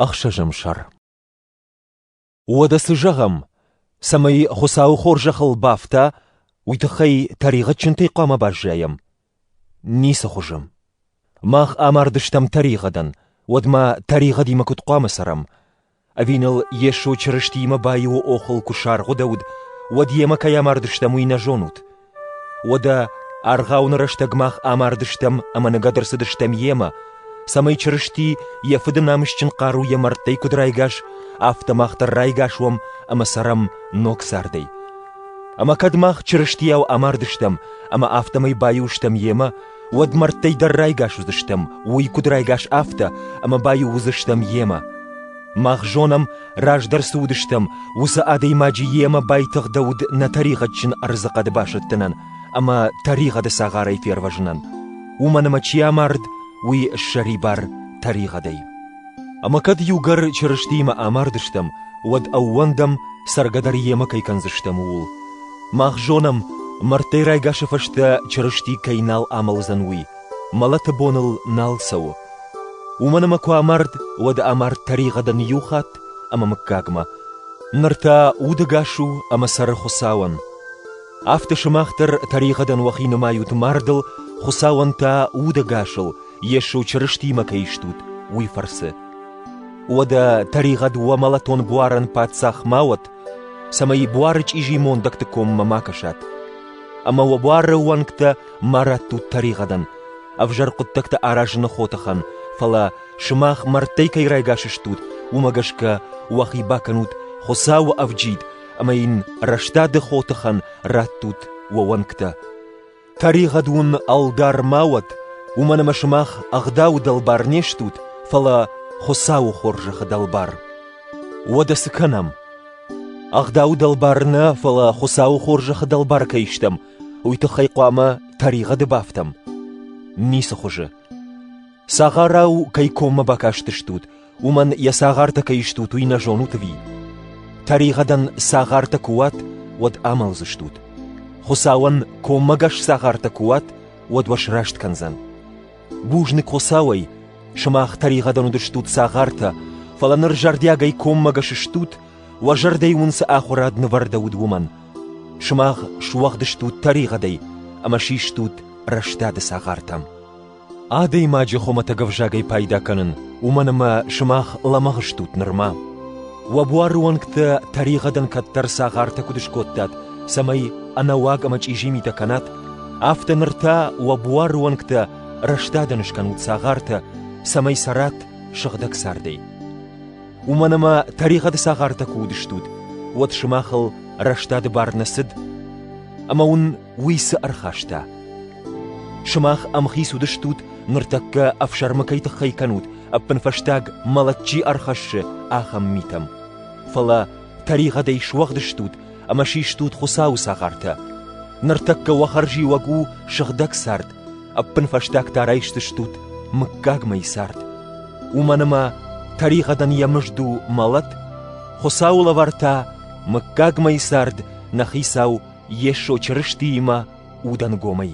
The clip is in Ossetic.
Ӕхсӕзӕм сӕр Уӕдӕ цы зӕгъӕм, цӕмӕй Хуыцауы хорзӕхыл бафта, уый тыххӕй тӕригъӕдджынтӕй хъуамӕ баззайӕм? Ницы хуызы. Мах амардыстӕм тӕригъӕдӕн, уӕд ма тӕригъӕдимӕ куыд хъуамӕ цӕрӕм? Ӕви ныл Йесо Чырыстиимӕ баиуы охыл куы саргъуыдӕуыд, уӕд, йемӕ кӕй амардыстӕм, уый нӕ зонут? Уӕдӕ аргъауны рӕстӕг мах амардыстӕм ӕмӕ ныгӕд ӕрцыдыстӕм йемӕ, цӕмӕй Чырысти йӕ Фыды намысджын хъару йӕ мӕрдтӕй куыд райгас, афтӕ мах дӕр райгас уӕм ӕмӕ цӕрӕм ног цардӕй. Ӕмӕ кӕд мах Чырыстийау амардыстӕм ӕмӕ афтӕмӕй баиу стӕм йемӕ, уӕд мӕрдтӕй дӕр райгас уыдзыстӕм, уый куыд райгас афтӕ, ӕмӕ баиу уыдзыстӕм йемӕ. Мах зонӕм, раздӕр цы уыдыстӕм, уыцы адӕймаджы йемӕ байтыгъдӕуыд нӕ тӕригъӕдджын ӕрдзыхъӕды басӕттынӕн ӕмӕ тӕригъӕды цагъарӕй фервӕзынӕн. Уымӕн ӕмӕ чи амард, уый ссӕрибар тӕригъӕдӕй. Ӕмӕ кӕд иугӕр Чырыстиимӕ амардыстӕм, уӕд ӕууӕндӕм, цӕргӕ дӕр йемӕ кӕй кӕндзыстӕм, ууыл. Мах зонӕм, мӕрдтӕй райгасы фӕстӕ Чырысти кӕй нал амӕлдзӕн, уый, мӕлӕты бон ыл нал цӕуы. Уымӕн ӕмӕ куы амард, уӕд амард тӕригъӕдӕн иу хатт ӕмӕ мыггагмӕ. Ныр та удӕгас у ӕмӕ цӕры Хуыцауӕн. Афтӕ сымах дӕр тӕригъӕдӕн уӕхи нымайут мардыл, Хуыцауӕн та удӕгасыл, Йесо Чырыстимӕ кӕй стут, уый фӕрцы. Уӕдӕ тӕригъӕд уӕ мӕлӕтон буарӕн паддзах ма уӕт, цӕмӕй буары чъизи мондӕгты коммӕ ма кӕсат. Ӕмӕ уӕ буары уӕнгтӕ ма раттут тӕригъӕдӕн, ӕвзӕр хъуыддӕгтӕ аразыны хотыхӕн, фӕлӕ сымах мӕрдтӕй кӕй райгас стут, уымӕ гӕсгӕ уӕхи бакӕнут Хуыцауы ӕвджид ӕмӕ йын рӕстады хотыхӕн раттут уӕ уӕнгтӕ. Тӕригъӕд уын ӕлдар ма уӕд, уымӕн ӕмӕ сымах ӕгъдауы дӕлбар не стут, фӕлӕ Хуыцауы хорзӕхы дӕлбар. Уӕдӕ цы кӕнӕм? Ӕгъдауы дӕлбар нӕ, фӕлӕ Хуыцауы хорзӕхы дӕлбар кӕй стӕм, уый тыххӕй хъуамӕ тӕригъӕды бафтӕм? Ницы хуызы. Цагъарау кӕй коммӕ бакастыстут, уымӕн йӕ цагъартӕ кӕй стут, уый нӕ зонут ӕви? Тӕригъӕдӕн цагъартӕ куы уат, уӕд амӕлдзыстут. Хуыцауӕн коммӕгӕс цагъартӕ куы уат, уӕд уӕ сраст кӕндзӕн. Бузныг Хуыцауӕй, сымах тӕригъӕдӕн уыдыстут цагъартӕ, фӕлӕ ныр зӕрдиагӕй коммӕгӕс стут, уӕ зӕрдӕй уын цы ахуырад нывӕрдӕуыд, уымӕн. Сымах суӕгъд стут тӕригъӕдӕй ӕмӕ систут рӕстады цагъартӕм. Адӕймаджы хуымӕтӕг ӕвзагӕй пайда кӕнын, уымӕн ӕмӕ сымах лӕмӕгъ стут нырма. Уӕ буары уӕнгтӕ тӕригъӕдӕн кӕддӕр цагъартӕ куыд скодтат, цӕмӕй ӕнӕуаг ӕмӕ чъизи митӕ кӕнат, афтӕ ныр та уӕ буары уӕнгтӕ рӕстадӕн скӕнут цагъартӕ, цӕмӕй цӕрат сыгъдӕг цардӕй. Уымӕн ӕмӕ тӕригъӕды цагъартӕ куы уыдыстут, уӕд сымахыл рӕстады бар нӕ цыд, ӕмӕ уын уый цы ӕрхаста? Сымах ӕмхиц уыдыстут, ныртӕккӕ ӕфсӕрмы кӕй тыххӕй кӕнут, ӕппынфӕстаг мӕлӕт чи ӕрхӕссы, ахӕм митӕм. Фӕлӕ тӕригъӕдӕй суӕгъдыстут ӕмӕ систут Хуыцауы цагъартӕ. Ныртӕккӕ уӕ хӕрзиуӕг у сыгъдӕг цард, ӕппынфӕстаг та райсдзыстут мыггагмӕйы цард. Уымӕн ӕмӕ тӕригъӕдӕн йӕ мызд у мӕлӕт, Хуыцауы лӕвар та мыггагмӕйы цард нӕ хицау Йесо Чырыстиимӕ удӕнгомӕй.